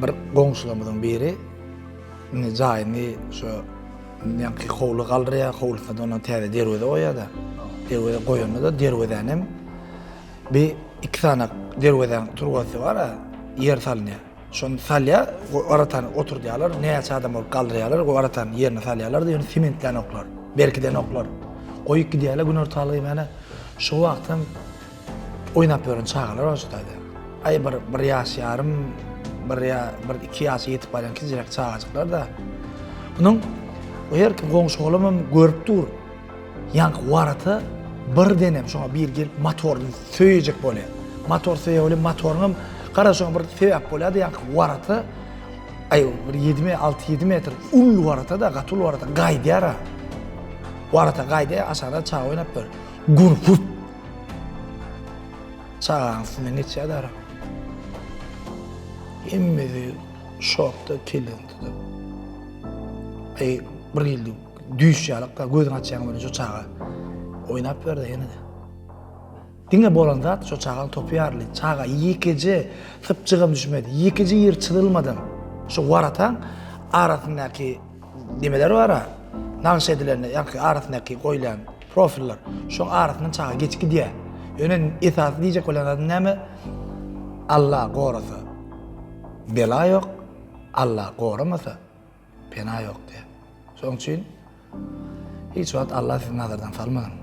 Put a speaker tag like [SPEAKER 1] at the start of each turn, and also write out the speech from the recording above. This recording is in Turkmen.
[SPEAKER 1] Bir goňşularymyzyň biri indi jaýyny şu ýaňky howly galdyrýar, howlusyna da ondan täze derweze goýýar-da. Derweze goýanda-da derwezäni hem bi iki sany derwezäň turbasy bar-a, ýer salynýar. Şony salýar, aratany oturdýarlar, näçe adam bolup galdyrýarlar, o aratany ýerine salýarlar-da, ýöne sementlän oklar, berkiden oklar. Goýup gidýärler günortalygy, mana şu wagtam Oýnap ýören çagalar bar şutaýda. Aý bir bir ýaş ýarym, bir ýa bir iki ýaşa ýetip barýan kiçijek çagajyklar-da. Munuň bu her kim goňşy-golamam görüp dur. Ýaňky warata birdenem şoňa biri gelip motoryny söýejek bolýar. Motor söýýär welin motoryňam gara şoňa bir sebäp bolýar-da ýaňky warata aý bir ýedi me alty-ýedi metr uly warata-da gaty uly warata gaýdýar-a. Warata gaýdýar, aşakda çaga oýnap ýör. Gun-hurt! Çagaň üstünden geçýär dara. Hemmesi şokda kellesini tutup. Eý, bir ýyldy düýş ýalykda gözüňi açýaň welin şu çaga oýnap ýör-de ýene-de. Diňe bolan zat şu çagaň topy ýaryly. Çaga ýekeje sypjygam düşmedi. Ýekeje ýeri çyzylmadan şu warataň arasyndaky Nimeler bar-a? Nagyş edilen, ýaňky arasyndaky goýlan profiller. Şoň arasyndan çaga geçip gidýär. Ýöne esasy diýjek bolan zadym näme? Alla gorasa, bela ýok, Alla goramasa, pena ýok diýýär. Şoň üçin hiç wagt Alla sizi nazardan salmasyn.